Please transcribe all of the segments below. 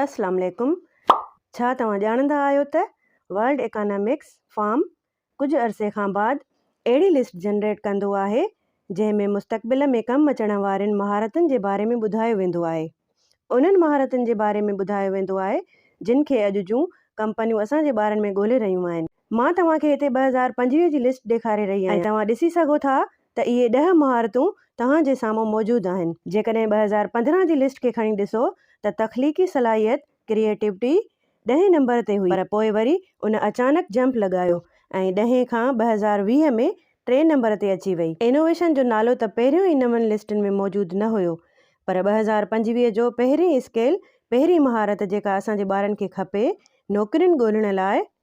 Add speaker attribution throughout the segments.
Speaker 1: السلام عليڪم ڇا توهان ڄاڻندا آهيو ته ورلڊ اڪانامڪس فارم ڪجهه عرصي کان بعد اهڙي لسٽ جنريٽ ڪندو آهي جنهن ۾ مستقبل ۾ ڪم اچڻ وارين مهارتن جي باري ۾ ٻڌايو ويندو آهي انهن مهارتن جي باري ۾ ٻڌايو ويندو آهي جن کي اڄ جون ڪمپنيون اسان جي ٻارن ۾ ڳولهي رهيون آهن مان توهان کي هتي ٻه هزار پنجويهه جي لسٽ ڏيکاري رهي آهيان ۽ توهان ڏسي سگهو ٿا ته اهي ڏهه مهارتون توهان جي سامهون موجود آهن. جيڪڏهن ٻه هزار پندرهن جي لسٽ کي کڻي ڏسو ته تخليقي صلاحيت، Creativity، ڏهين نمبر تي هئي پر پوء وري ان اچانڪ جمپ لڳايو ۽ ڏهين کان ٻه هزار ويهه ۾ ٽئين نمبر تي اچي وئي. انوويشن جو نالو ته پهريون ئي نون لسٽن ۾ موجود نه هيو پر ٻه هزار پنجويهه جو پهرين اسڪيل، پهرين مهارت جيڪا اسان جي ٻارن کي کپي نوڪرين ڳولڻ لاء،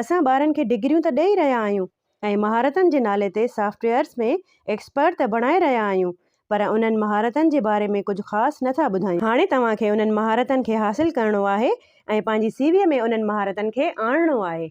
Speaker 1: اسان ٻارن کي ڊگريون ته ڏئي رهيا آهيون ۽ مهارتن جي نالي تي سافٽ ويئرز ۾ ايڪسپرٽ ته بڻائي رهيا آهيون پر انهن مهارتن جي باري ۾ ڪجهه خاص نه ٿا ٻڌايون. هاڻي توهان کي انهن مهارتن کي حاصل ڪرڻو آهي ۽ پنهنجي سي ويء ۾ انهن مهارتن کي آڻڻو آهي.